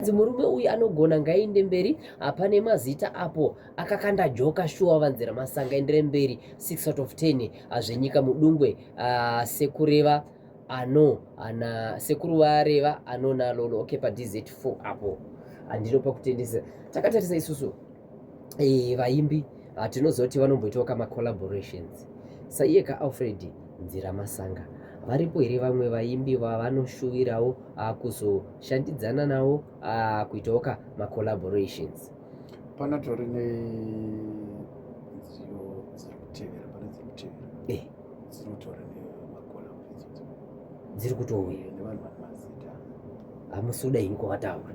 Hanzi murume uyu anogona ngainde mberi hapane mazita apo akakanda joka shuwa vanzira masanga endere mberi 6 out of 10 hazvenyika mudungwe uh, sekureva ano ana sekuru vareva anona lolo okay pa dz4 apo handinopa kutendesa takatarisa isusu eh, vaimbi ah, tinozoti vanomboitawo ka macollaborations saiye ka alfred nzira masanga varipo here vamwe vaimbi vavanoshuvirawo ah, kuzoshandidzana nawo ah, kuitawo ka macollaborations panatori nedziyo dziri kutevera pane dziri kutevera eh. dzinotora dziri kutouya hamusi kuda ini kwavataura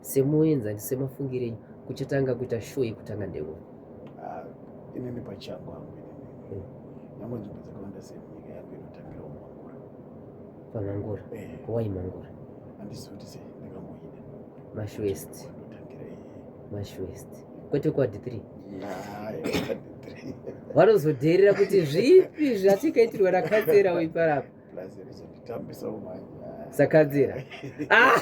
Semuenzani semafungire enyu kuchatanga kuita show yekutanga ndeuno? Ah, inini pachangu hangu inini. Nyangwe nzvimbo dzakawanda semunyika yangu inotangira mangura. Pamangura? Eh. Why mangura? Handisi kuti sei ndakamboida. Mash West. Ndotangira iyi. Mash West. Kwete kwa D3. Hayi, kwa D3. Vanozodheerera kuti zvipi zvatikaitirwa na Katsera uyu parapa. sakadzira ah!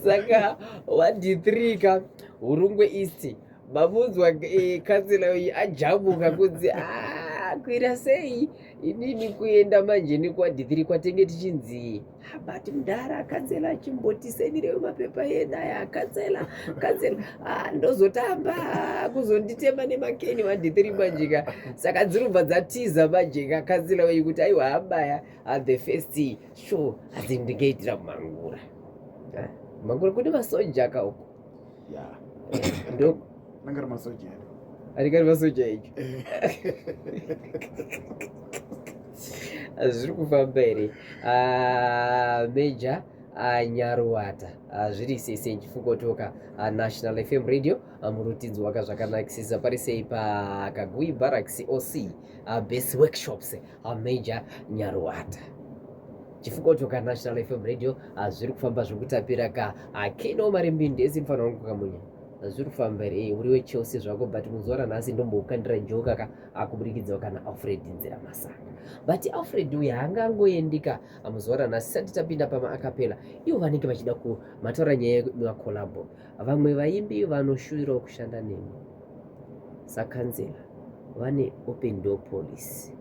saka wadhitrika hurungwe isti mamunzwa eh, kansela uyu ajamuka kunzi ah, kwira sei inini kuenda manje nekwadhitrika tenge tichinzii but mdara akatsela achimboti sendirewe mapepa yena aya akatsela akatsela ah, ndozotamba kuzonditema nemakeni madhitiri majika saka dzirubva dzatiza majika akatsela wei kuti aiwa abaya at the first show asi ndingaitira mangura ah, mangura kune masoja kauko anenge ari masoja anenge ari masoja icho zviri kufamba here ah, meja ah, nyaruwata ah, zviri sese chifukotoka national fm radio murutidzo waka zvakanakisisa pari sei pakagui barracks oc base workshops meja nyaruwata chifukoto kana national fm radio ah, zviri kufamba zvokutapira ka akino ah, mari mbindi esi mfana wangu kamunya ah, zviri kufamba here eh, uri wechelsea zvako but muzuva ranhasi ndomboukandira joka ka akuburikidzawo kana alfred nzira masanga but alfred uyu haanga angoendika muzuva ranhasi sati tapinda pama akapela ivo vanenge vachida kumataura nyaya yemacolabo Vamwe vaimbi vanoshuvirawo kushanda nemi sakanzera vane open door policy.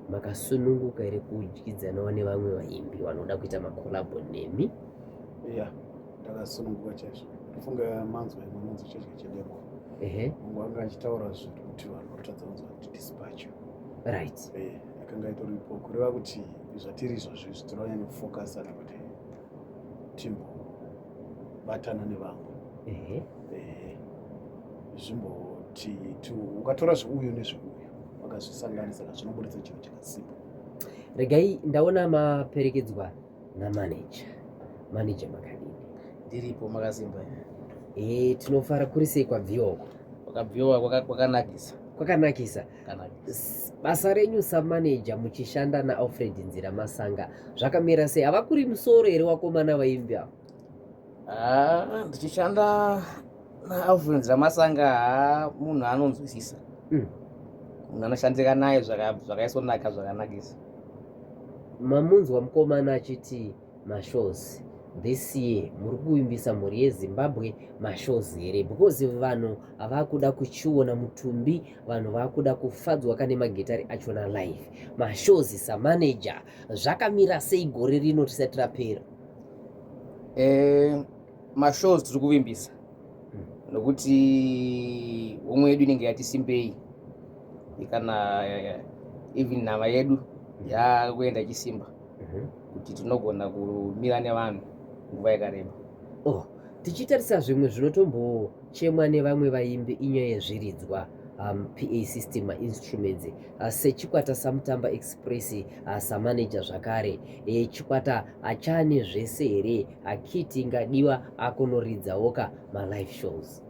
Makasununguka here kudyidzanawo nevamwe vaimbi vanoda kuita makolabo nemi? Yeah, ndakasununguka chaizvo. Ndofunga manzwa imwe manzwa chaizvo chedemo. Ehe. Mungu anga achitaura zvinhu kuti vanhu vakutadza kunzwa kuti dispatch. Right. Eh, akanga itoripo kureva kuti zvatiri izvozvi zvitoranyanya kufocusana kuti timbobatana nevamwe ehe ehe zvimboti ti- ukatora zveuyu nezveuyu wakazvisanganisa ka zvinoburitsa chinhu chakasimba regai ndaona maperekedzwa namanager manager makadini ndiripo makasimba imi. e, tinofara kuri sei kwabviwa uko wakabviwa kwaka- kwakanakisa kwakanakisa basa renyu samaneja muchishanda naalfred nzira masanga zvakamira sei havakuri musoro here wakomana vaimbi avo ah, ndichishanda naalfred nzira masanga haa munhu anonzwisisa hmm. munhu anoshandika naye zvakaisonaka zvakanakisa mamunzwa mukomana achiti mashows this year muri kuvimbisa mhuri yezimbabwe mashows here because vanhu havakuda kuchiona mutumbi vanhu vakuda kufadzwa kane magitari achona live mashows samanager zvakamira sei gore rino tisati rapera eh, mashows tiri kuvimbisa hmm. nokuti homwe yedu inenge yati simbei kana eh, even nhava yedu hmm. yakuenda ichisimba mm -hmm. kuti tinogona kumira nevanhu nguva yakareba oh, tichitarisa zvimwe zvinotombochemwa nevamwe vaimbi inyaya yezviridzwa um, pa system instruments uh, sechikwata samutamba express uh, samaneja zvakare e, chikwata achane zvese here akiti ingadiwa akonoridzawoka malive shows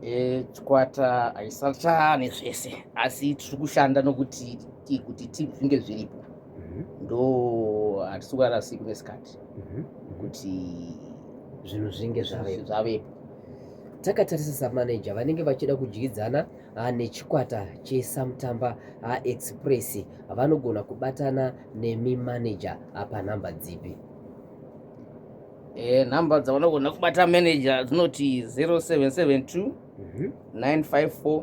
e, chikwata haisachane zvese asi tiri kushanda nokuti kuti zvinge zviripo mhm. ndo hatisingarasiki nesikati mhm. kuti zvinhu zvinge zvavepo takatarisa samaneja vanenge vachida kudyidzana ah, nechikwata chesamutamba ah, express vanogona kubatana nemi maneja ah, panhamba dzipi eh, nhamba dzavanogona kubata maneja dzinoti 0772 954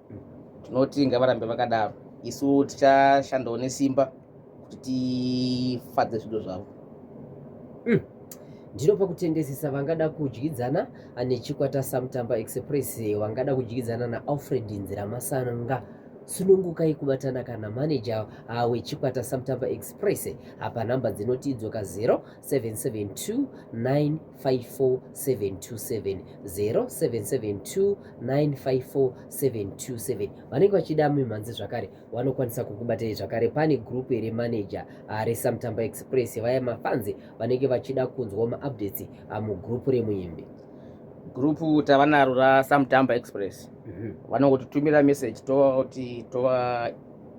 tinoti ngavarambe vakadaro isu tichashandawo nesimba kuti tifadze zvido zvavo mm. ndiro pakutendesesa vangada kudyidzana nechikwata samutamba express wangada kudyidzana naalfred nziramasanga sunungukai kubatana kana maneja ah, wechikwata samutamba express apa nhamba dzinoti idzoka 0772 954 727 vanenge vachida mimhanzi zvakare vanokwanisa kukubatai zvakare pane group here manager ah, resamtamba express vaya mafanzi vanenge vachida kunzwa maupdates ah, mugroup remuimbi gurupu tava naro rasamtamba express mhm. vanongotitumira message toti tova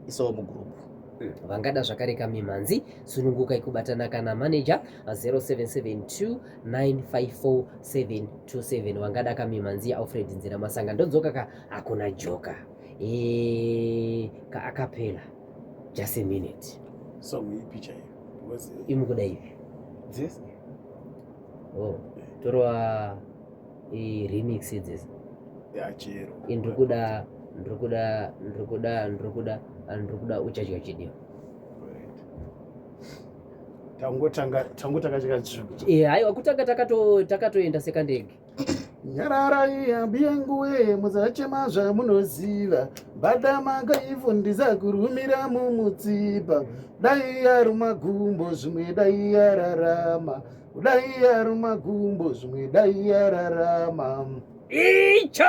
isowo mugurupu mm, vangada zvakare kamimhanzi sununguka ikubatana kana manager 0772954727 wangada kamimanzi yaAlfred Nzira Masanga ndodzoka ka hakuna joka e, ka akapela just a minute song ipi chaiyo imukuda ipi dzese oh torwa i remix dzese ya chero indikuda ndikuda ndikuda ndikuda ndikuda uchadya chidyo tangotanga tangotanga chikatsvuka eh haiwa kutanga takato takatoenda sekandege nyararai hambi yangu wee musachema zvamunoziva badama kaifu ndisakurumira mumutsipa dai yaruma gumbo zvimwe dai yararama dai yaruma gumbo zvimwe dai yararama icho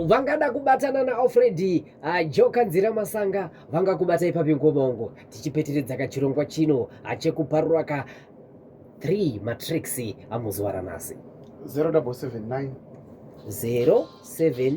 vangada kubatana naalfredi ah, joka nzira masanga vangakubata ipapi ngobongo tichipeteredza kachirongwa chino ah, chekuparura ka 3 matrix amuzuva ranhasi 079 079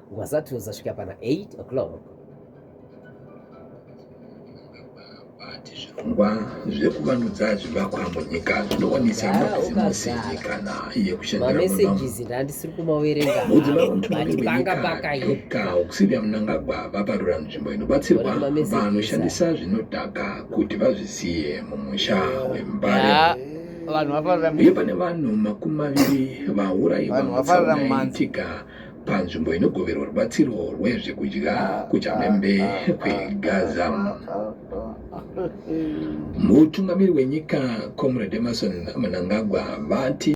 Wasatuza svika pana 8 o'clock. Vati zvirongwa zvekuvandudza zvivakwa munyika zvinowanisa Gara mabhizimusi ukagara. nyikana yekushandira muno. Mamesages ndandisiri kumaverenga. Mudzimai Vanhu wemutongi vati panga wenyika pakaye. Dr Auxillia Mnangagwa vaparura nzvimbo inobatsirwa Wana mamessages vanoshandisa zvinodhaka kuti vazvisiye mumusha weMbare. Yaa, vanhu vaparira uye pane vanhu makumi maviri vaurayiwa Vanhu vaparira mutsaona mumanzi. yaitika panzvimbo inogoverwa rubatsiro rwezvekudya kuchamhembe kwegaza mutungamiri wenyika comrade emerson mnangagwa vati